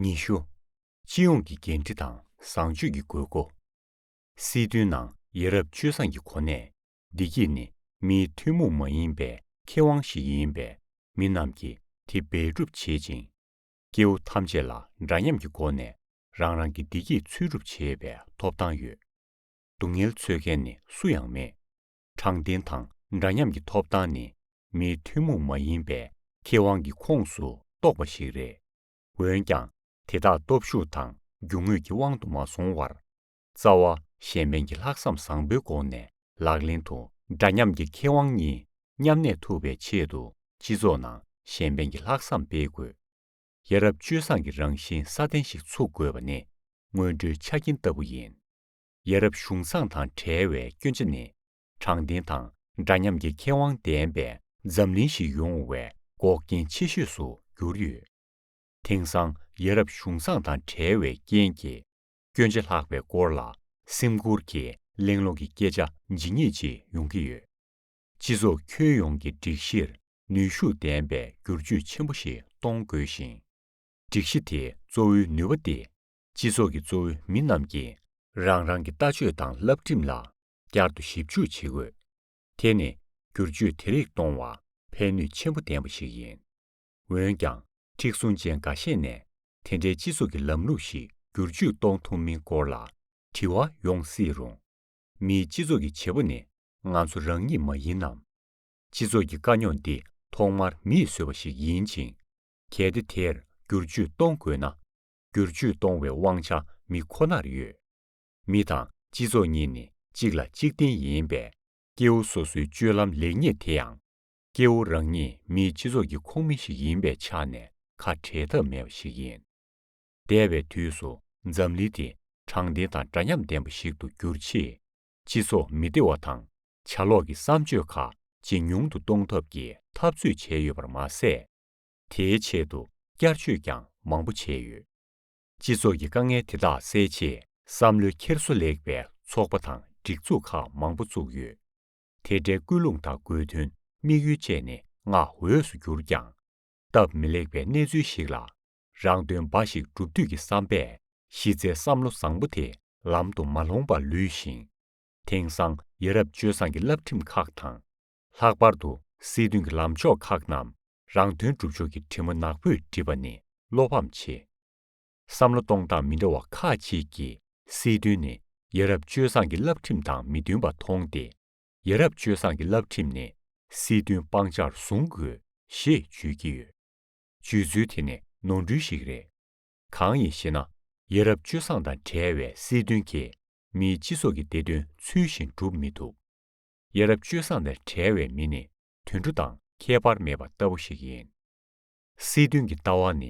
ཉི་ཤུ། སྤྱི་ཡོངས་ཀྱི་འགན་འཁྲི་དང་བཟང་སྤྱོད་ཀྱི་དགོས་མཁོ། སྲིད་དོན་ནང་ཡ་རབས་སྤྱོད་བཟང་གི་གོ་གནས། བདེ་སྐྱིད་ནི་མིའི་ཐུན་མོང་མ་ཡིན་པའི་ཁེ་དབང་ཞིག་ཡིན་པས་མི་རྣམས་ཀྱིས་དེ་འབད་སྒྲུབ་བྱེད་ཅིང། སྐྱེ་བོ་ཐམས་ཅད་ལ་འདྲ་མཉམ་གྱི་སྒོ་ནས་རང་རང་གི་བདེ་སྐྱིད་འཚོལ་སྒྲུབ་བྱེད་པའི་ཐོབ་ཐང་ཡོད། སྡུག་བསྔལ་འཚོལ་མཁན་ནི་སུ་ཡང་མེད། དྲང་བདེན་དང་འདྲ་མཉམ་གྱི་ཐོབ་ཐང་ནི་མིའི་ཐུན་མོང་མ་ཡིན་པའི་ཁེ་དབང་གི་ཁོངས་སུ་གཏོགས་པ་ཞིག་རེད། འོན་ཀྱང་དེ་དག་སྟོབས་ཤུགས་དང་རྒྱུ་དངོས་ཀྱི་དབང་དུ་མ་སོང་བར། རྩ་བ་གཞན་ཕན་གྱི་ལྷག་བསམ་བཟང་པོའི་སྒོ་ནས་ལག་ལེན་དུ་འདྲ་མཉམ་གྱི་ཁེ་དབང་གཉིས་མཉམ་གནས་ཐུབ་པའི་ཆེད་དུ་སྤྱི་ཚོགས་ནང་གཞན་ཕན་གྱི་ལྷག་བསམ་སྤེལ་དགོས། ཡ་རབས་སྤྱོད་བཟང་གི་རང་བཞིན་སྲ་བརྟན་ཞིག་ཚུགས་དགོས་པ་ནི་སྔོན་འགྲོའི་ཆ་རྐྱེན་ལྟ་བུ་ཡིན། ཡ་རབས་གཞུང་བཟང་དང་བྲལ་བའི་སྐྱོན་ཆ་ནི། དྲང་བདེན་དང་འདྲ་མཉམ་གྱི་ཁེ་དབང་ལྡན་པའི་འཛམ་གླིང་ཞིག་ཡོང་བའི་འགོག་རྐྱེན་ཆེ་ཤོས་སུ་གྱུར་ཡོད། དེང་སང་ཡ་རབས་གཞུང་བཟང་དང་བྲལ་བའི་རྐྱེན་གྱིས་སྐྱོན་ཆ་ལྷག་པའི་སྐོར་ལ་སེམས་ཁུར་གྱིས་གླེང་སློང་གི་སྐད་ཆ་ཇི་སྙེད་ཅིག་ཡོང་གི་ཡོད། སྤྱི་ཚོགས་ཁྱོན་ཡོངས་ཀྱི་སྒྲིག་གཞིར་ནུས་ཤུགས་ལྡན་པའི་བསྒྱུར་བཅོས་ཆེན་པོ་ཞིག་གཏོང་དགོས་ཤིང། སྒྲིག་གཞི་དེའི་གཙོ་བོའི་ནུས་པ་སྟེ་སྤྱི་ཚོགས་ཀྱི་གཙོ་བོའི་མི་རྣམས་ཀྱིས། རང་རང་གི་ལྟ་སྤྱོད་དང་བསླབ་ཁྲིམས་ལ་བསྐྱར་དུ་ཞིབ་འཇུག་བྱེད་དགོས། དེ་ནི་སྒྱུར་བཅོས་དེ་རིགས་གཏོང་བར་ཕན་ནུས་ཆེན་པོ་ལྡན་པ་ཞིག་ཡིན། འོན་ཀྱང་མཁྲེགས་བཟུང་ཅན་འགའ་ཤས་ནས་དེ་འདྲའི་སྤྱི་ཚོགས་ཀྱི་ལམ་ལུགས་ཤིག་སྒྱུར་བཅོས་གཏོང་ཐུབ་མིན་སྐོར་ལ་དྲི་བ་ཡོང་སྲིད་རུང། མིའི་སྤྱི་ཚོགས་ཀྱི་བྱེད་པོ་ནི་ང་ཚོ་རང་ཉིད་མ་ཡིན་ནམ། སྤྱི་ཚོགས་ཀྱི་དཀའ་རྙོག་འདི་ཐོག་མར་མིས་བཟོས་པ་ཞིག་ཡིན་ཅིང། གལ་ཏེ་དེར་སྒྱུར་བཅོས་གཏོང་དགོས་ན། སྒྱུར་བཅོས་གཏོང་བའི་དབང་ཆ་མི་ཁོ་ནར་ཡོད། མི་དང་སྤྱི་ཚོགས་གཉིས་ནི་གཅིག་ལ་གཅིག་བརྟེན་ཡིན་པས། སྐྱེ་བོ་སོ་སོའི་སྤྱོད་ལམ་ལེགས་ཉེས་དེ་ཡང། སྐྱེ་བོ་རང་ཉིད་མིའི་སྤྱི་ཚོགས་ཀྱི་ཁོངས་མི་ཞིག་ཡིན་པའི་ཆ་ནས་ཁ་བྲལ་ཐབས་མེད་པ་ཞིག་ཡིན། འདས་པའི་དུས་སུ་འཛམ་གླིང་དེ་དྲང་བདེན་དང་འདྲ་མཉམ་ལྡན་པ་ཞིག་ཏུ་འགྱུར་ཆེད། སྤྱི་ཚོགས་མི་བདེ་བ་དང་ཆ་ལོག་གི་བསམ་སྤྱོད་ཁག་ཇེ་ཉུང་དུ་གཏོང་ཐབས་ཀྱི་འཐབ་རྩོད་བྱས་ཡོད་པར་མ་ཟད། དེའི་ཆེད་དུ་བསྐྱར་བཅོས་ཀྱང་མང་པོ་བྱས་ཡོད། སྤྱི་ཚོགས་ཀྱི་དཀའ་ངལ་དེ་དག་སེལ་ཆེད་བསམ་བློའི་འཁྱེར་སོ་ལེགས་པའི་ཚོགས་པ་དང་སྒྲིག་འཛུགས་ཁག་མང་པོ་བཙུགས་ཡོད། དེ་འདྲའི་སྐུལ་སློང་དང་སྒོས་དོན་དམིགས་ཡུལ་བཅས་ནི་བསྔགས་འོས་སུ་གྱུར་ཀྱང། སྟབས་མི་ལེགས་པའི་གནས་ཚུལ་ཞིག་ལ། རང་དོན་འབའ་ཞིག་བསྒྲུབ་འདོད་ཀྱི་བསམ་པས་གཞི་རྩའི་བསམ་བློ་བཟང་པོ་དེ་ལམ་དུ་མ་ལྷོང་པར་ལུས་ཤིང། དེང་སང་ཡ་རབས་སྤྱོད་བཟང་གི་བསླབ་ཁྲིམས་ཁག་དང། ལྷག་པར་དུ་སྲིད་དོན་གྱི་ལམ་ཕྱོགས་ཁག་རྣམས་རང་དོན་སྒྲུབ་ཕྱོགས་ཀྱི་དྲི་མ་ནག་པོས་བྲིས་པ་ནི་བློ་ཕམ་ཆེ། བསམ་བློ་གཏོང་སྟངས་མི་འདྲ་བ་ཁག་ཅིག་གིས་སྲིད་དོན་ནི་ཡ་རབས་སྤྱོད་བཟང་གི་བསླབ་ཁྲིམས་དང་མི་མཐུན་པ་མཐོང་སྟེ། ཡ་རབས་སྤྱོད་བཟང་གི་བསླབ་ཁྲིམས་ནི་སྲིད་དོན་སྤང་བྱར་བཟུང་དགོས་ཞེས་བརྗོད་ཀྱི་ཡོད། བརྗོད་ཚུལ་དེ་ནི་ནོར་འཁྲུལ་ཞིག་རེད། གང་ཡིན་ཞེ་ན་ཡ་རབས་སྤྱོད་བཟང་དང་བྲལ་བའི་སྲིད་དོན་གྱིས་མིའི་སྤྱི་ཚོགས་ཀྱི་བདེ་དོན་ཚུལ་བཞིན་སྒྲུབ་མི་ཐུབ། ཡ་རབས་སྤྱོད་བཟང་ནས་བྲལ་བའི་མི་ནི་དུད་འགྲོ་དང་ཁྱད་པར་མེད་པ་ལྟ་བུ་ཞིག་ཡིན། སྲིད་དོན་གྱི་ལྟ་བ་ནི་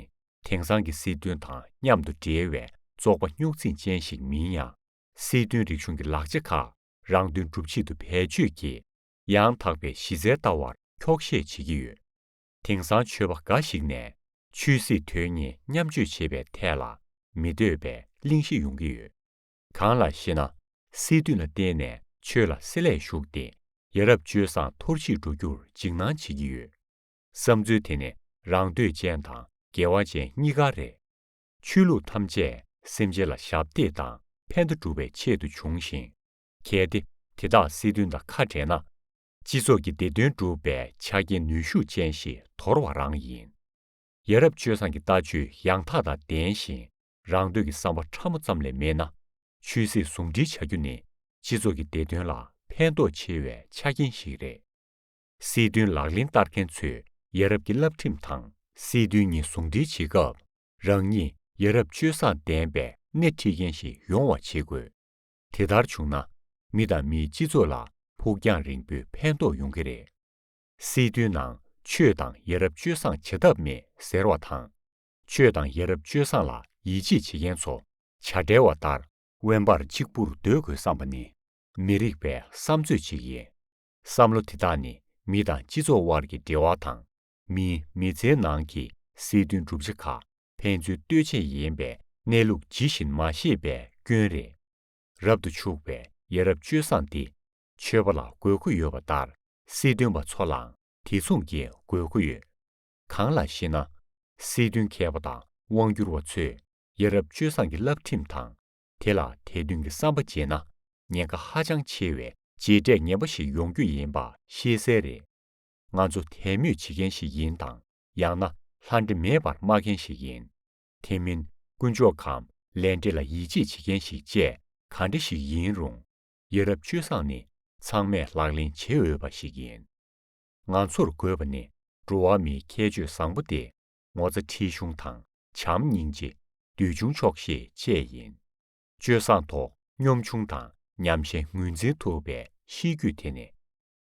དེང་སང་གི་སྲིད་དོན་དང་མཉམ་དུ་འབྲེལ་བའི་བཙོག་པ་རྙོག་འཛིང་ཅན་ཞིག་མིན་ཡང་སྲིད་དོན་རིག་གཞུང་གི་ལག་ཆ་ཁག་རང་དོན་སྒྲུབ་ཆེད་དུ་བེད་སྤྱོད་ཀྱིས་ཡང་དག་པའི་གཞི་རྩའི་ལྟ་བར་འཁྱོག་བཤད་བྱེད་ཀྱི་ཡོད། དེང་སང་ཆོས་པ་འགའ་ཞིག་ནས་ཆོས་སྲིད་དོན་གཉིས་མཉམ་སྤྱོད་བྱེད་པའི་ཐད་ལ་མི་འདོད་པའི་གླེང་གཞི་ཡོང་གི་ཡོད། གང་ལགས་ཤེ་ན། སྲིད་དོན་ལ་བརྟེན་ནས་ཆོས་ལ་སྲིད་ལས་ཞུགས་ཏེ། ཡ་རབས་སྤྱོད་བཟང་འཐོར་ཞིག་འགྲོ་རྒྱུར་འཇིགས་སྣང་བྱེད་ཀྱི་ཡོད། བསམ་ཚུལ་དེ་ནི་རང་འདོད་ཅན་དང་འགལ་བ་ཅན་གཉིས་ཀ་རེད། ཆོས་ལུགས་ཐམས་ཅད་སེམས་ཅན་ལ་ཞབས་འདེགས་དང་ཕན་བདེ་སྒྲུབ་པའི་ཆེད་དུ་བྱུང་ཞིང། གལ་ཏེ་དེ་དག་སྲིད་དོན་དང་ཁ་བྲལ་ན། སྤྱི་ཚོགས་ཀྱི་བདེ་དོན་སྒྲུབ་པའི་ཆ་རྐྱེན་ནུས་ཤུགས་ཅན་ཞིག་དོར་བ་རང་ཡིན། ཡ་རབས་སྤྱོད་བཟང་གི་ལྟ་སྤྱོད་ཡང་དག་དང་ལྡན་ཞིང་རང་འདོད་ཀྱི་བསམ་པ་ཕྲ་མོ་ཙམ་ལས་མེད་ན་ཆོས་སྲིད་ཟུང་འབྲེལ་བྱ་རྒྱུ་ནི་སྤྱི་ཚོགས་ཀྱི་བདེ་དོན་ལ་ཕན་ཐོགས་ཆེ་བའི་ཆ་རྐྱེན་ཞིག་རེད། སྲིད་དོན་ལག་ལེན་བསྟར་མཁན་ཚོས་ཡ་རབས་ཀྱི་བསླབ་ཁྲིམས་དང་སྲིད་དོན་གཉིས་ཟུང་འབྲེལ་བྱེད་སྐབས་རང་ཉིད་ཡ་རབས་སྤྱོད་བཟང་ལྡན་པའི་སྣེ་ཁྲིད་མཁན་ཞིག་ཡོང་བ་བྱེད་དགོས། དེ་ལྟར་བྱུང་ན་མི་དང་མིའི་སྤྱི་ཚོགས་ལ་ཕུགས་རྒྱང་རིང་པོའི་ཕན་ཐོགས་ཡོང་གི་རེད། སྲིད་དོན་ནང་ཆོས་དང་ཡ་རབས་སྤྱོད་བཟང་བྱེད་ཐབས་མེད་ཟེར་བ་དང། ཆོས་དང་ཡ་རབས་སྤྱོད་བཟང་ལ་ཡིད་ཆེས་བྱེད་མཁན་ཚོ་བྱ་བྲལ་བ་ལྟར། དབེན་པར་གཅིག་པུར་སྡོད་དགོས་བསམ་པ་ནི་མི་རིགས་པའི་བསམ་ཚོད་ཅིག་ཡིན། བསམ་བློ་དེ་དག་ནི་མི་དང་སྤྱི་ཚོགས་དབར་གྱི་འབྲེལ་བ་དང། མིའི་མི་ཚེའི་ནང་གི་སྲིད་དོན་གྲུབ་ཆ་ཁག་ཕན་ཚུན་ལྟོས་བཅས་ཡིན་པའི་གནས་ལུགས་ཇི་བཞིན་མ་ཤེས་པའི་སྐྱོན་རེད། རབ་ཏུ་ཕྱུག་པའི་ཡ་རབས་སྤྱོད་བཟང་འདི་ཆོས་པ་ལ་དགོས་མཁོ་ཡོད་པ་ལྟར་སྲིད་དོན་པ་ཚོ་ལའང་དེ་མཚུངས་ཀྱི་དགོས་མཁོ་ཡོད། གང་ལགས་ཤེ་ན། སྲིད་དོན་མཁས་པ་དང་དབང་སྒྱུར་བ་ཚོས་ཡ་རབས་སྤྱོད་བཟང་གི་བསླབ་ཁྲིམས་དང་དེ་ལ་དད་འདུན་གྱི་བསམ་པ་བརྗེས་ན་ཉེན་ཁ་ཧ་ཅང་ཆེ་བའི་རྗེས་འབྲས་ངན་པ་ཞིག་ཡོང་རྒྱུ་ཡིན་པ་ཤེས་གསལ་རེད། ང་ཚོ་དད་མོས་བྱེད་མཁན་ཞིག་ཡིན་དང་ཡང་ན་ལྷ་འདྲེ་མེད་པར་སྨྲ་མཁན་ཞིག་ཡིན། དེ་མིན་དཀོན་མཆོག་གམ་ལས་འབྲས་ལ་ཡིད་ཆེས་བྱེད་མཁན་ཞིག་བཅས་ག་འདྲ་ཞིག་ཡིན་རུང་ཡ་རབས་སྤྱོད་བཟང་ནི་ཚང་མས་ལག་ལེན་བྱེད་འོས་པ་ཞིག་ཡིན། ང་ཚོར་དགོས་པ་ནི་འགྲོ་བ་མིའི་ཁྱད་ཆོས་བཟང་པོ་སྟེ་ངོ་ཚ་ཁྲེལ་གཞུང་དང་བྱམས་སྙིང་རྗེ། འདུལ་ཆུང་ཆོག་ཤེས་བཅས་ཡིན། སྤྱོད་བཟང་ཐོག་སྙོམས་ཆུང་དང་ཉམས་ཞན་ངོས་འཛིན་ཐུབ་པའི་གཤིས་རྒྱུད་དེ་ནི།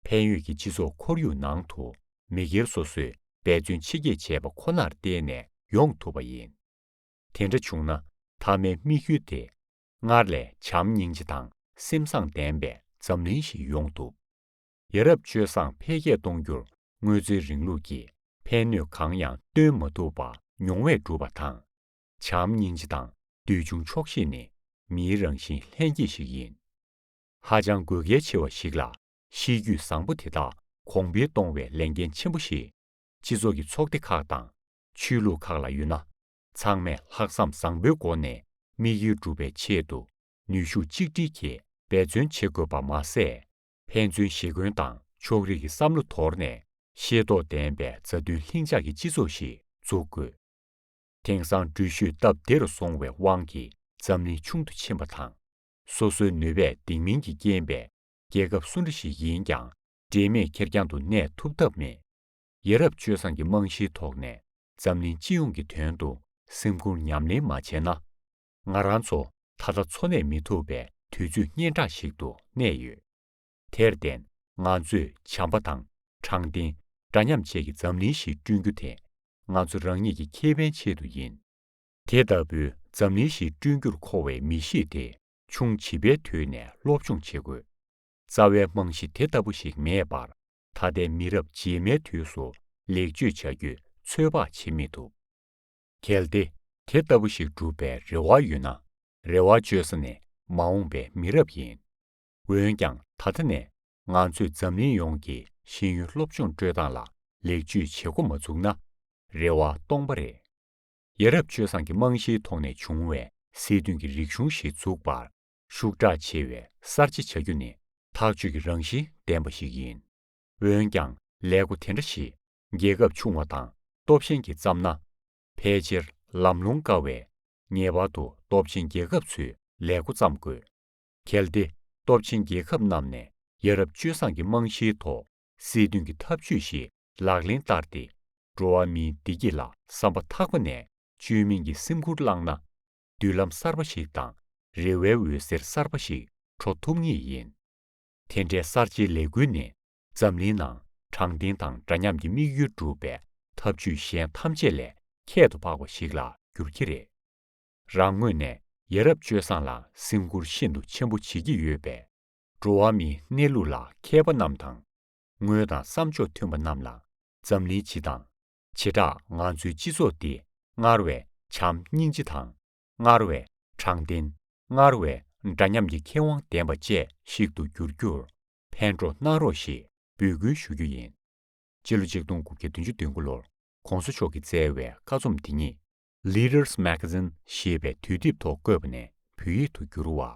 ཕན་ཡོད་ཀྱི་སྤྱི་ཚོགས་ཁོར་ཡུག་ནང་དུ་མི་སྒེར་སོ་སོས་འབད་བརྩོན་ཆེ་བསྐྱེད་བྱས་པ་ཁོ་ནར་བརྟེན་ནས་ཡོང་ཐུབ་པ་ཡིན། དེ་འདྲ་བྱུང་ན་མཐའ་མའི་དམིགས་ཡུལ་དེ། སྔར་ལས་བྱམས་སྙིང་རྗེ་དང་སེམས་བཟང་ལྡན་པའི་འཛམ་གླིང་ཞིག་ཡོང་ཐུབ། ཡ་རབས་སྤྱོད་བཟང་འཕེལ་རྒྱས་གཏོང་རྒྱུར་དངོས་གཙོའི་རིང་ལུགས་ཀྱི་ཕན་ནུས་གང་ཡང་སྟོན་མ་ཐུབ་པ་མྱོང་བས་གྲུབ་པ་དང། བྱམས་སྙིང་རྗེ་དང་འདུལ་བྱུང་ཆོག་ཤེས་ནི་མིའི་རང་བཞིན་ལྷན་སྐྱེས་ཤིག་ཡིན། ཧ་ཅང་དགོས་གལ་ཆེ་བ་ཞིག་ལ་གཤིས་རྒྱུད་བཟང་པོ་དེ་དག་གོང་འཕེལ་གཏོང་བའི་ལས་འགན་ཆེན་པོ་ཞིག་སྤྱི་ཚོགས་ཀྱི་ཚོགས་སྡེ་ཁག་དང་ཆོས་ལུགས་ཁག་ལ་ཡོད་ན། ཚང་མས་ལྷག་བསམ་བཟང་པོའི་སྒོ་ནས་དམིགས་ཡུལ་འགྲུབ་པའི་ཆེད་དུ་ནུས་ཤུགས་གཅིག་སྒྲིལ་གྱིས་འབད་བརྩོན་བྱེད་དགོས་པ་མ་ཟད། ཕན་ཚུན་ཞེ་འཁོན་དང་ཕྱོགས་རིས་ཀྱི་བསམ་བློ་དོར་ནས་ཤེས་རྟོགས་ལྡན་པའི་མཛའ་མཐུན་ལྷིང་འཇགས་ཀྱི་སྤྱི་ཚོགས་ཤིག་འཛུགས་དགོས། དེང་སང་འགྲུལ་བཞུད་སྟབས་བདེ་རུ་སོང་བའི་དབང་གིས་འཛམ་གླིང་ཆུང་དུ་ཕྱིན་པ་དང། སོ་སོའི་ནུས་པས་འདེགས་མིན་གྱི་རྐྱེན་པས་རྒྱལ་ཁབ་སུ་འདྲ་ཞིག་ཡིན་ཀྱང་འབྲེལ་མེད་ཁེར་རྐྱང་དུ་གནས་ཐུབ་ཐབས་མེད། ཡ་རབས་སྤྱོད་བཟང་གི་རྨང་གཞིའི་ཐོག་ནས་འཛམ་གླིང་སྤྱི་ཡོངས་ཀྱི་དོན་དུ་སེམས་ཁུར་ཉམས་ལེན་མ་བྱས་ན། ང་རང་ཚོ་ད་ལྟ་འཚོ་གནས་མི་ཐུབ་པའི་དུས་ཚོད་གཉན་འཕྲང་ཞིག་ཏུ་གནས་ཡོད། དེར་བརྟེན་ང་ཚོས་བྱམས་པ་དང་དྲང་བདེན་འདྲ་མཉམ་བཅས་ཀྱི་འཛམ་གླིང་ཞིག་བསྐྲུན་རྒྱུ་དེ་ང་ཚོ་རང་ཉིད་ཀྱི་ཁེ་ཕན་ཆེད་དུ་ཡིན། དེ་ལྟ་བུའི་འཛམ་གླིང་ཞིག་བསྐྲུན་རྒྱུར་མཁོ་བའི་མི་གཤིས་དེ་ཆུང་བྱིས་པའི་དུས་ནས་སློབ་སྦྱོང་བྱེད་དགོས། རྩ་བའི་རྨང་གཞི་དེ་ལྟ་བུ་ཞིག་མེད་པར་ད་ལྟའི་མི་རབས་རྗེས་མའི་དུས་སུ་ལེགས་བཅོས་བྱ་རྒྱུ་ཚོད་དཔག་བྱེད་མི་ཐུབ། གལ་ཏེ་དེ་ལྟ་བུ་ཞིག་སྒྲུབ་པའི་རེ་བ་ཡོད་ན་རེ་བ་བཅོལ་ས་ནས་མ་འོངས་པའི་མི་རབས་ཡིན། འོན་ཀྱང་ད་ལྟ་ནས་ང་ཚོས་འཛམ་གླིང་ཡོངས་ཀྱི་ཤེས་ཡོན་སློབ་སྦྱོང་སྤྲོད་སྟངས་ལ་ལེགས་བཅོས་བྱེད་འགོ་མ་བཙུགས་ན་རེ་བ་སྟོང་པ་རེད། ཡ་རབས་སྤྱོད་བཟང་གི་རྨང་གཞིའི་ཐོག་ནས་བྱུང་བའི་སྲིད་དོན་གྱི་རིག་གཞུང་ཞིག་འཛུགས་པར་ཤུགས་དྲག་ཆེ་བའི་གསར་བརྗེ་བྱ་རྒྱུ་ནི་ཐག་གཅོད་ཀྱི་རང་བཞིན་ལྡན་པ་ཞིག་ཡིན། འོན་ཀྱང་ལས་སྒོ་དེ་འདྲ་ཞིག་རྒྱལ་ཁབ་ཆུང་བ་དང་སྟོབས་ཆེན་གྱིས་བརྩམས་ན། ཕལ་ཆེར་ལམ་ལྷོང་དཀའ་བས། ངེས་པར་དུ་སྟོབས་ཆེན་རྒྱལ་ཁབ་ཚོས་ལས་སྒོ་བརྩམས་དགོས། གལ་ཏེ་སྟོབས་ཆེན་རྒྱལ་ཁབ་རྣམས་ནས་ཡ་རབས་སྤྱོད་བཟང་གི་རྨང་གཞིའི་ཐོག་སྲིད་དོན་གྱི་ཐབས་ཇུས་ཤིག་ལག་ལེན་བསྟར་ཏེ། འགྲོ་བ་མིའི་བདེ་སྐྱིད་ལ་བསམ་པ་ཐག་པ་ནས་བཅོས་མིན་གྱི་སེམས་ཁུར་བླངས་ན། མདུན་ལམ་གསར་པ་ཞིག་དང་རེ་བའི་འོད་ཟེར་གསར་པ་ཞིག་འཕྲོ་ཐུབ་ངེས་ཡིན། དེ་འདྲའི་གསར་བརྗེའི་ལས་འགུལ་ནི་འཛམ་གླིང་ནང་དྲང་བདེན་དང་འདྲ་མཉམ་གྱི་དམིགས་ཡུལ་འགྲུབ་པའི་ཐབས་ཇུས་གཞན་ཐམས་ཅད་ལས་ཁྱད་དུ་འཕགས་པ་ཞིག་ལ་འགྱུར་གྱི་རེད། རང་ངོས་ནས་ཡ་རབས་སྤྱོད་བཟང་ལ་སེམས་ཁུར་ཤིན་ཏུ་ཆེན་པོ་བྱེད་ཀྱི་ཡོད་པས། འགྲོ་བ་མིའི་གནས་ལུགས་ལ་མཁས་པ་རྣམས་དང། ངོས་དང་བསམ་ཕྱོགས་མཐུན་པ་རྣམས་ལ་འཛམ་གླིང་སྤྱི་དང། བྱེ་བྲག་ང་ཚོའི་སྤྱི་ཚོགས་འདི་སྔར་བས་བྱམས་སྙིང་རྗེ་དང། སྔར་བས་དྲང་བདེན། སྔར་བས་འདྲ་མཉམ་གྱི་ཁེ་དབང་ལྡན་པ་བཅས་ཤིག་ཏུ་འགྱུར་རྒྱུར་ཕན་གྲོགས་གནང་རོགས་ཞེས་འབོད་སྐུལ་ཞུ་རྒྱུ་ཡིན། སྤྱི་ལོ་ཆིག་སྟོང་དགུ་བརྒྱ་བདུན་ཅུ་དོན་དགུ་ལོར ྋགོང་ས་མཆོག་གིས་བསྩལ་བའི་བཀའ་རྩོམ་འདི་ཉིད། Leaders Magazine། ཞེས་པའི་དུས་དེབ་ཐོག་བཀོད་པ་ནས་བོད་ཡིག་ཏུ་བསྒྱུར་བ།